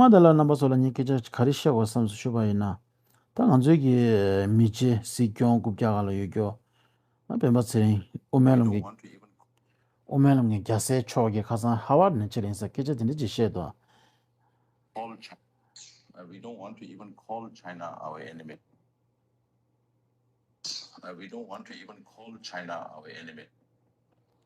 ང་དང་ལར་རྣམ་པ་ཚོ་ལ་ངས་སྐད་ཆ་ག་རེ་བཤད་དགོས་བསམས་སུ་ཆུད་པ་ཡིན། ད་ང་ཚོའི་གི་མི་རྗེ་སྲིད་སྐྱོང་རྐུབ་བཀྱག་ག་ལ་ཡོད་རྒྱོ། སྤེན་པ་ཚེ་རིང་དབུ་མའི་ལམ་གི་དབུ་མའི་ལམ་གི་རྒྱ་སེ་མཆོག་གི་ཁ་ཚང Harvard ནས་ཕྱིར་ཡིན་སར་སྐད་ཆ་དེ་འདྲ་ཅིག་བཤད་དོ།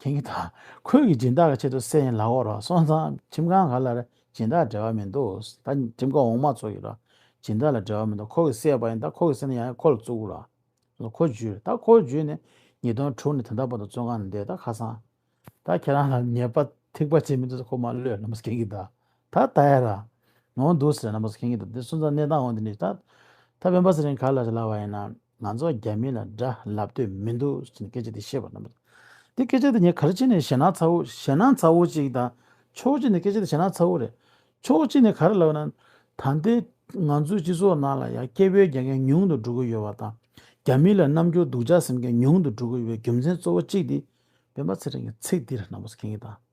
ཁྱེད་ཀྱི་དང་ཁོད་ཀྱི་སྦྱིན་བདག་གི་ཆེད་དུ་སེ་ཡིན་ལག་འོག་རོགས་སོང་ཙང་ཁྲིམས་ཁང་ག་ལ་རེད་སྦྱིན་བདག་འབྲེལ་བ་མི་འདུག་ད་ཁྲིམས་ཁང་འོག་མ་ཚོ་ཡོད་རོགས་སྦྱིན་བདག་ལ་འབྲེལ་བ་མི་འདུག་ཁོ་གི་སེ་བ་ཡིན་ད་ཁོ་གི་སེ་ན་ཡང་ཁོ་ལ་བཙུགས་རོགས་ལ་ཁོ་བརྒྱུད་ད་ཁོ་བརྒྱུད་ནས་ཉིས་སྟོང་དྲུག་ནས་དེ་འདྲ་བར་དུ་བཙོན་ཁང་ནས་བསྡད་ད་ཁ་སང་ད་ཁྱེད་རང་ལ་ཉེས་པ་ཐིག་པ་བྱེད་མི་འདུག་ཟེར་ཁོ་མ་བློས་ན་མོ་ཟེར་ཁྱེད་ཀྱི་དང་ད་ད་ཡ་ར་ནོང་འདུག་ཟེར་ན་མོ་ཟེར་ཁྱེད་ཀྱི་དང་དེ་སོང་ཙང་གནས་སྟངས་འོང་དེ་འདྲ་ད་ད་བན་པ་ཟེར་རིང་ག་ལ་ཟེར་ལ་བ་ཡིན་ན། ང་ཚོ་རྒྱ་མི་ལ་དགྲ་ལབ་འདོད་མི་འདུག་ཟེར་ནས་སྐད་ཆ་དེ་བཤད་པ་ནམ། དེ་སྐད་ཆ་དེ་ངས་གར་ཕྱིན་ནས་ཞེད་སྣང་ཚ་བོ་ཞེད་སྣང་ཚ་བོ་ཅིག་དང་ཕྱོགས་གཅིག་ནས་སྐད་ཆ་དེ་ཞེད་སྣང་ཚ་བོ་རེད། ཕྱོགས་གཅིག་ནས་གར་ལབ་ན། ད་ལྟའི་ང་ཚོའི་སྤྱི་ཚོགས་ནང་ལ་ཡང་སྐྱེ་བོའི་རྒྱལ་ཁའི་ཉུང་དུ་འགྲོ་གི་ཡོད་པ་དང་རྒྱ་མི་ལ་རྣམ་འགྱུར་སྡུག་ཅག་སེམས་ཁའི་ཉུང་དུ་འགྲོ་གི་ཡོད་པའི་རྒྱུ་མཚན་གཙོ་བོ་གཅིག་དེ་སྤེན་པ་ཚེ་རིང་གི་ཚིག་འདི་རེད་ནམ་ཟེར་མཁན་གྱི་དང།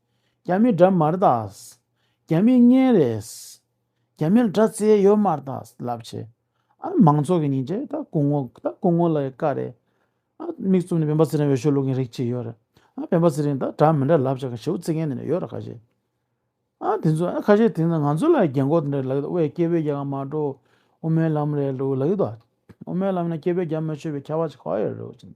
རྒྱ་མི་དགྲ་དམར་དག། རྒྱ་མི་གཉེན་རེད། རྒྱ་མིལ་དགྲ་བཙལ་ཡོད་དམར་དག་ལབ་བྱས། ཨ་རི་མང་ཚོགས་ཀྱི་ཉིན་རེ་ད་སྐུ་ངོ་ད་སྐུ་ངོ་ལ་ཡི་དཀའ་རེད། ཨ་མིག་བཙུམ་ནས་བན་པ་ཚེ་རིང་འོས་ཤོག་བླུག་མཁན་རིགས་གཅིག་ཡོད་རེད། ཨ་བན་པ་ཚེ་རིང་ད་དགྲ་མི་འདྲ་ལབ་བྱས་ཁ་ཞེ་བོ་བཙིར་མཁན་དེ་འདྲ་ཡོད་རེད་ཁ་ཞེ། ཨ་དེ་ཚོ་ཨ་ཁ་ཞེ་དེ་ཚོ་ང་ཚོ་ལ་རྒྱན་གོག་དེ་འདྲ་ལབ་ཡོད་དབའས་སྐྱེ་བོའི་རྒྱལ་ཁ་མ་འགྲོ་དབུ་མའི་ལམ་རེད་ལུགས་ལབ་ཡོད་དོ། དབུ་མའི་ལམ་ཡིན་ན་སྐྱེ་བོའི་རྒྱ་མི་ཆོད་པའི་ཁྱད་པ་ཆེ་ཁག་ཡོད་རེད་ལུགས་བྱས།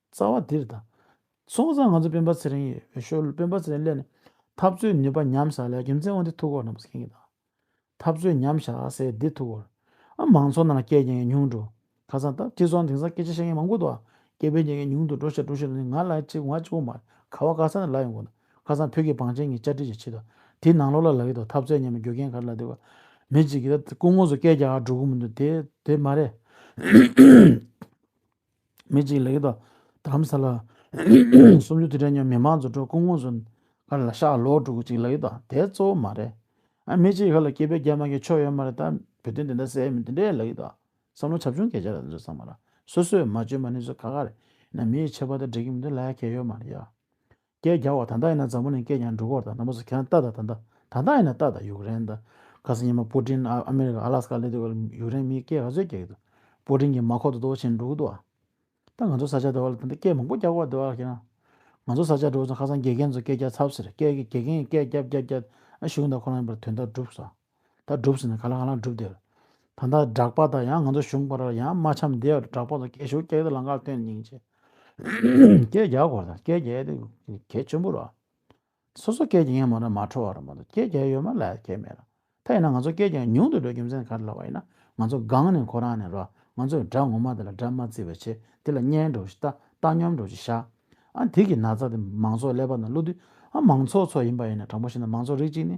རྩ་བ་འདིར་དང། སོང་ཙང་ང་ཚོ་སྤེན་པ་ཚེ་རིང་ཡི་འོས་ཤོར་ལོ་སྤེན་པ་ཚེ་རིང་སླེབས་ནས་འཐབ་རྩོད་ནུས་པ་ཉམས་བཞག་ལ་རྒྱུ་མཚན་དབང་འདི་ཐུག་གོ་རྣམ་པ་ཟེར་གྱིན་གདའ། འཐབ་རྩོད་ཉམས་བཞག་སའི་འདི་ཐུག་གོ། ཨ་མང་ཚོགས་ནང་ལ་སྐད་གྱེངས་ཉུང་འགྲོ། ཁ་སང་འཐབ་ཁྲིད་ཚོགས་འདིང་སང་སྐད་ཆ་བཤད་མཁན་མང་པོ་འདུག་ཨ། སྐད་བེད་གྱེངས་ཉུང་དུ་འགྲོ་ཤེས་འགྲོ་ཤེས་ནི་ང་ལ་ཅིག་ང་ཅིག་གོ་མ་རེད་ཁ་བ་ཀ་ས་ནས་ལ་ཡོང་གོ་ན་ཁ་སང་བོད་ཀྱི་བང་ཆེན་གྱི་བཅར་འདྲི་ཞིག་བྱེད་དོ་དེའི་ནང་ལོག་ལ་ལ་ཡོད་དོ་འཐབ་རྩོད་ཉམས་པའི་རྒྱུ་རྐྱེན་ག་རེ་ལ་འདི་གོ། མི་ཅིག་གིས་ད་སྐུ་ངོ་སོ་སྐད་རྒྱག་འགྲོ་གི་མི་འདུག་དེ་དེ་མ་རེད། མི་གཅིག་ལེགས་དང་དམ་ཟ་ལ། སུམ་ཅུ་དུས་དྲན་ཉོན་མི་མང་རྫུ་འཕྲུལ་སྐུ་ངོ་ཟུན། ཁ་ལ་ཤ་ལོ་དྲུག་གཅིག་ལེགས་དང་དེ་གཙོ་བོ་མ་རེད། མི་གཅིག་ཧ་ལ་སྐྱིད་པའི་རྒྱ་མ་གི་ཆོ་ཡོད་མ་རེད་ད་བོད་དོན་དེ་འདྲ་སེ་མི་དེ་འདྲའི་ལེགས་དང་བསམ་བློ་བྱབ་ཆུང་གས་བྱས་ར་ཟེར་ཚང་མ་ར་སོ་སོས་མ་བཅོས་མ་ནི་ཚོ་ག་ག་རེད་ཡིན་ན་མི་ཡི་ཆེ་བ་དེ་འགྲིག་གི་མི་འདུག་ལ་ཡ་གས་ཡོད་མ་རེད་ཡ། སྐད་རྒྱག་བ་ད་ལྟ་ཡིན་ན་འཛམ་བུ་ནས་སྐད་རྒྱག་འགྲོ་གོར་དང་ནམ་སོ་ཁན་ཏཱ་དང་ད་ལྟ་ད་ལྟ་ཡིན་ན་ཏཱ་དང་ཡུཀ་རེན་དང་ག་སོ་ཉི་མ་པུ་ཏྲིན་ཨ་མི་རི་ཀ་ཨ་ལཱས་ཀ་སླེབས་དུས་ཀ་ཡུཀ་རེན་མིའི་སྐད་ག་ཚོད་རྒྱག་གི་འདུག་པུ་ཏྲིན་གྱི་མ་ཁོག་ཏུ་རྡོ་བྱིན་འགྲོ་གི་འདུག་ད་ང་ཚོ་ས་ཆ་དེ་བ་ལ་ད་ལྟ་སྐད་མང་པོ་རྒྱག་གོ་དེ་བ་ལ་ཁྱེད་རང་ང་ཚོ་ས་ཆ་འགྲོ་བ་ཚོ་ཁ་སང་དགེ་རྒན་ཚོ་སྐད་རྒྱག་ཚར་ཟེར་སྐད་དགེ་རྒན་གྱི་སྐད་རྒྱབ་རྒྱབ་རྒྱབ་ཨ་ཞུ་གི་འདུག་ཁོ་རང་ཡིན་པར་དོན་དག་བསྒྲུབས་སོ། ད་སྒྲུབ་ཟེར་ནས་ག་ལ་ག་ལ་སྒྲུབ་དེར། ད་ལྟ་སྦྲགས་པ་དང་ཡང་ང་ཚོ་གཞུང་པར་ཡང་རྨ་འཆམ་བདེ་བར་སྦྲགས་པ་དང་སྐད་ཤུགས་སྐྱེད་དེ་ལང་ཀར་སྟོན་སྙིང་རྗེ། སྐད་རྒྱག་དགོས་དང་སྐད་རྒྱས་དེ་གལ་ཆེན་པོ་རེད། སོ་སོ་སྐད་རྒྱག་ཡས་མ་རེད་མ་འཕྲོ་བ་རེད་མ་གཏོགས་སྐད་རྒྱག་ཡོད་མ་ལས་སྐད་མེད་རེད། ད་ཡིན་ན་ང་ཚོ་སྐད་རྒྱག་ཉུང་དུ་འགྲོ་རྒྱུ་མཚན་ག་རེ་ལབ་པ་ཡིན་ན་ང་ཚོ་སྒང་ནས་ཁོ་རང་ནས་རེད་ང་ཚོས་སྒྲ་ངོ་མ་དེ་ལ་སྒྲ་མ་བརྩི་བའི་ཆེད་དེ་ལ་སྙན་འགྲོ་ཞིག་བལྟ་བཏང་སྙོམས་འགྲོ་ཞིག་བཞག་ཨ་དེ་གི་ན་ཚ་དེ་མང་ཚོགས་ཀླད་པ་དང་བློ་མཐུན་ཨ་མང་ཚོགས་ཚོ་ཡིན་པ་ཡིན་ན་དྲང་པོ་བཤད་ན་མང་ཚོགས་རིགས་གཅིག་ནི།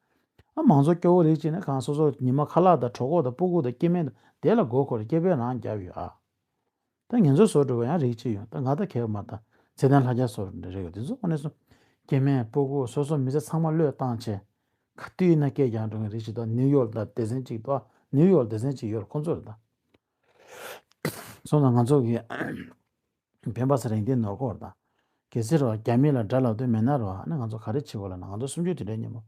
ཨ་མང་ཚོགས་སྐྱོ་བོ་རེད་ཅེས་ན་གང་སོ་སོར་ཉི་མ་ཁ་ལག་དང་གྲོགས་ཁོག་དང་སྤུ་སྒུག་དང་སྐྱེ་དམན་དང་དེ་ལ་མགོ་འཁོར་སྐྱེ་འཕེལ་རང་རྒྱབ་ཡོད་ཨ། ད་ངེད་ཚོ་བཟོ་འགྲོ་བ་ཡང་རིགས་གཅིག་ཡོང་ད་ང་ད་གེགས་མ་ད་ཚེ་ལྡན་ལྷ་རྒྱ་བཟོ་རེ་རེ་ཡོད་དེ་ཚོ་ཨོ་ནས་སོང། སྐྱེ་དམན་སྤུ་སྒུག་སོ་སོ་མི་ཚེ་ཚང་མ་བློས་བཏང་བྱས། ག་དུས་ན་སྐད་རྒྱག་འགྲོ་མཁན་རིགས་གཅིག་ད་ནིའུ་ཡོག་ད་སྡེ་ཚན་གཅིག་ད་ནིའུ་ཡོག་སྡེ་ཚན་གཅིག་ཡོད་ཁོ་ཚོ་རེད་ད། སོང་ད་ང་ཚོ་གི། བན་བྷ་སི་རེང་ཏིའི་ནོར་སྐོར་དང། གལ་སྲིད་རོ་རྒྱ་མི་ལ་དགྲ་ལག་འདོན་མེད་ན་རོ་ཧ་ནི་ང་ཚོ་ག་རེ་བྱེད་དགོས་ལ་ང་ཚོ་སུམ་ཅུ་དེ་འདྲའི་ཉིན་མོ།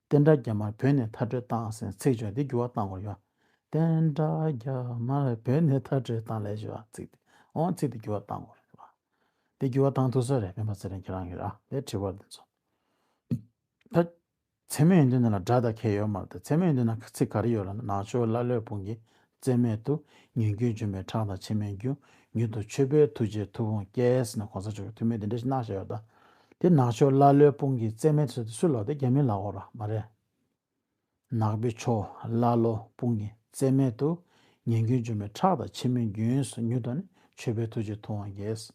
བསྟན་དགྲ་རྒྱ་མར་བོད་ནས་མཐར་སྤྲོད་བཏང་ཟེར་ཚིག་བརྗོད་དེ་འགྱུར་བ་བཏང་དགོས་ཡོད། བསྟན་དགྲ་རྒྱ་མར་བོད་ནས་མཐར་སྤྲོད་བཏང་ལས་བྱེད་པ་ཚིག་དེ་འོང་ཚིག་དེ་འགྱུར་བ་བཏང་དགོས་རེད་བ། དེ་འགྱུར་བ་བཏང་ཐུག་ས་རེད་བན་བྷ་སི་རེང་ཁྱེད་རང་གི་ར་ལས་བྲིས་བ་དེ་ཚོ། ད། མཚན་མོ་ཡིན་དུས་འདི་ན་སྒྲ་དང་ཁལ་ཡོད་མ་རེད་མཚན་མོ་ཡིན་དུས་ན་ཚིག་ག་རེ་ཡོད་རེད་ནང་ཆོས་ཀླ་ཀློའི་དཔུང་གིས་བརྩེ་མེད་དུ་ཉོན་རྒྱུན་འཇོམས་པའི་ཁྲག་དང་མཆི་མའི་རྒྱུ་ཉུལ་དུ་ཆོས་པའི་ཐུགས་རྗེའི་མཐུ་དཔུང་སྐྱེས་ནས་གོང་ས་མཆོག་གི་ཐུགས་མི་དེ་འདྲ་ཞིག་གནང་བཞག་ཡོད་ད་དེ་ནང་ཆོས་ཀླ་ཀློའི་དཔུང་གིས་བརྩེ་མེད་དུ་བཟོས་ཏེ་སུས་ལོག་དེ་རྒྱ་མིས་ལག་འོག་ར་མ་རེད། ནག་པོའི་ཆོས་ཀླ་ཀློའི་དཔུང་གིས་བརྩེ་མེད་དུ་ཉོན་རྒྱུན་འཇོམས་པའི་ཁྲག་དང་མཆི་མའི་རྒྱུན་སུ་ཉུལ་དུ་ནས་ཆོས་པའི་ཐུགས་རྗེའི་མཐུ་དབང་སྐྱེས།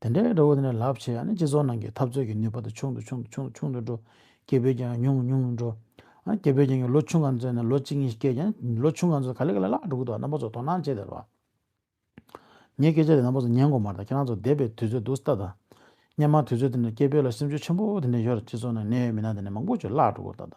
དེ་འདྲའི་འབྲས་བུ་དེ་ནི་རླབས་ཆེ་ཡང་ནི་སྤྱི་ཚོགས་ནང་གི་འཐབ་རྩོད་ཀྱི་ནུས་པ་དེ་ཆུང་དུ་ཆུང་དུ་ཆུང་དུ་ཆུང་དུ་འགྲོ། སྐྱེ་བོའི་རྒྱང་ཡང་ཉུང་ཉུང་དུ་འགྲོ། སྐྱེ་བོའི་རྒྱང་གི་ལོ་ཆུང་ག་ཚོད་ནས་ལོ་གཅིག་གཉིས་ཤིག་བསྐྱལ་ཀྱང་ལོ་ཆུང་ག་ཚོད་ག་ལེ་ག་ལེ་ལགས་འགྲོ་གི་འདུག་རྣམ་པ་ཚོ་དོ་སྣང་བྱེད་དེ་རོགས། ངའི་སྐད་ཆ་དེ་རྣམ་པ་ཚོ་ཉན་དགོས་མ་རེད་ཁྱེད་རང་ཚོ་འདས་པའི་དུས་ཚོད་སྡུག་ས་ད་ད། སྙན་མ་དུས་ཚོད་དེ་འདྲ་སྐྱེ་བོས་ལ་སེམས་ཆུ་ཆེན་པོ་དེ་འདྲ་ཡོད་རེད་སྤྱི་ཚོགས་ནང་གནས་ཡོད་མི་སྣ་དེ་འདྲ་མང་པོ་ཆུ་བརླག་འགྲོ་གི་འདུག་ད་ད།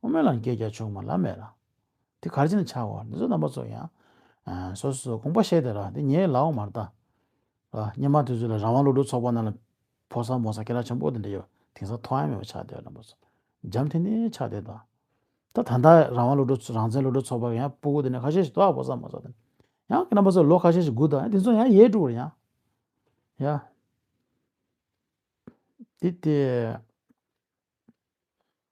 དབུ་མའི་ལམ་གྱི་རྒྱ་ཆུང་མ་ལམ་མེད་ལ། དེ་གར་ཅན་ཆགས་བར་འདི་ཚོ་རྣམ་པ་ཚོ་ཡང། སོ་སོས་དགོངས་པ་བཞེས་ཏེ་ར་འདི་ངའི་ལག་འོག་མར་བལྟ། སྙེ་མ་དེ་ཚོས་ལ་རང་དབང་སློབ་ཕྲུག་ཚོགས་པ་རྣམས་ལ་ཕོ་ས་མོ་ས་སྐད་ལ་ཆང་བུ་དང་འདྲེས་པའི་དེང་སང་ཐོག་ཡང་མེད་པ་ཆགས་བསྡད་ར་འདི་ཚོ་འཇམ་ཐིང་ཐིང་ཆགས་བསྡད་དང། ད་ད་ལྟ་རང་དབང་སློབ་ཕྲུག་ཚོ་རང་བཙན་སློབ་ཕྲུག་ཚོགས་པར་ཡང་སྤུ་གུ་དེ་ནས་ཁ་ཤས་ཤིག་དོག་ཕོ་ས་མོ་ས་དང། ཡང་རྣམ་པ་ཚོ་ལོ་ཁ་ཤས་ཤིག་སྒུག་དང་དེ་ཚོ་ཡང་ཡས་དཀྲུག་བར་ཡང། ཡ། དེ་དེ།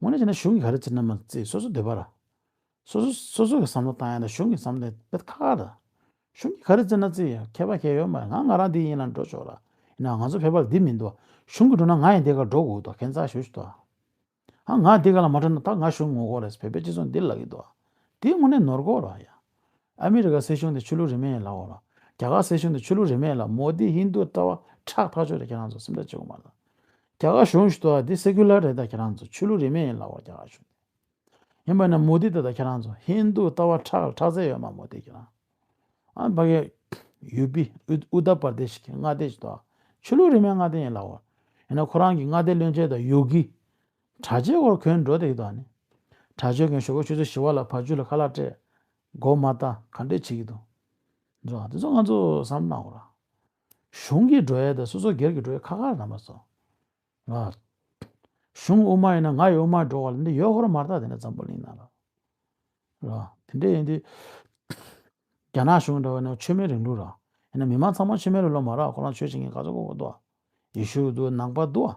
ངོས་ནས་བྱས་ན་གཞུང་གི་ག་རེ་བྱེད་ན་མ་རྩིས་སོ་སོའི་འདོད་པ་ར། སོ་སོ་སོ་སོ་གི་བསམ་བློ་བཏང་ཡ་ན་གཞུང་གི་བསམ་བློ་དེ་ཁ་ཁ་ར། གཞུང་གི་ག་རེ་བརྩི་ན་བརྩི་མཁས་པ་མཁས་ཡོད་མ་ཡོད་ང་ང་རང་འདི་ཡིན་ལ་འགྲོ་ཆོག་ར། ཡིན་ནའང་ང་ཚོ་ཕལ་པར་འདི་མིན་འདུག་གཞུང་གི་འགྲོ་ན་ང་ཡང་འདི་གར་འགྲོ་དགོས་འདུག་གན་ཚ་ཞུ་ཞུ་འདུག་ང་འདི་ག་ལ་མ་འགྲོ་ན་ད་ང་གཞུང་ངོ་རྒོལ་རེད་བོད་པའི་སྤྱི་ཚོགས་འདི་ལ་ཡོད་འདུག་དེའི་ངོ་ནས་ནོར་གོ་ར་ཡ། ཨ་མི་རི་ཀ་སྲིད་གཞུང་དེ་ཆོས་ལུགས་རིས་མེད་ཡིན་ལགས་འོ། རྒྱ་གར་སྲིད་གཞུང་དེ་ཆོས་ལུགས་རིས་མེད་ལགས་མོ་དི་ཧིན་དུ་ལྟ་བ་ཁྲག་འཐག་ཆོས་རེད་ཁྱེད་རང་ཚོ་སེམས་ཁྲལ་བྱེད་དགོས་མ་ལགས། རྒྱ་གར་གཞུང་ཞུ་དོ་དེ Secular རེད་ད་ཁྱེད་རང་ཚོ་ཆོས་ལུགས་རིས་མེད་ཡིན་ལགས་འོ་རྒྱ་གར་གཞུང་དེ། ཡིན་པ་ན་མོ་དི་ལྟ་ད་ཁྱེད་རང་ཚོ་ཧིན་དུ་ལྟ་བ་ཁྲག་ལ་ཁྲག་རྩལ་ཡོད་མ་མོ་དི་ཁྱེད་རང། ཨ་བྷ་གྷེ། ཡུ་པི། Uttar Pradesh གི་མངའ་སྡེ་ཞུ་དོ་ཆོས་ལུགས་རིས་མེད་མངའ་སྡེ་ཡིན་ལགས་འོ། ཡིན་ན་ཁོ་རང་གི་མངའ་སྡེ་བློན་ཆེན་དང་ཡོ་གི། དྲག་ཆས་སྒོར་གོན་འགྲོ་དེ་ཡི་དོགས་ནི། དྲག་ཆས་གོན་ཞོག་གོ་ཆུ་ཚོད་བཞི་བ་ལ་བར་ཆུ་ལ་ཁ་ལག་སྤྲད། མགོ་མ་བལྟ་ག་འདྲས་བྱེད་ཀྱི་འདུག། འགྲོ་བ་དེ་ཚོ་ང་ཚོ་བསམ་གནང་རོགས། གཞུང་གི་འགྲོ་ཡས་དང་སོ་སོ་སྒེར་གྱི་འགྲོ་ཡས་ཁ་ཁར་ནང་པ་ཚོ། རོགས། གཞུང་དབུ་མ་ཡིན་ན་ང་ཡི་དབུ་མར་འགྲོ་གོ་ལ་འདི་ཡོད་ཧོར་མར་དག་དེ་འདྲ་འཛམ་བུ་གླིང་ན་རོགས། རོགས། དེ་འདྲས་ཡིན་དུས། རྒྱ་ནག་གཞུང་འདྲ་བ་ནི་ཆོས་མེད་རིང་ལུགས་རོགས། ཡིན་ན་མི་མང་ཚང་མ་ཆོས་མེད་རུ་ལོག་མ་རོགས་ཁོ་རང་ཆོས་བྱེད་མཁན་ག་ཚོད་ཁོ་བོ་འདུག་ཨ། ཡེ་ཤུ་འདུག་ཨ་ནང་པ་འདུག་ཨ།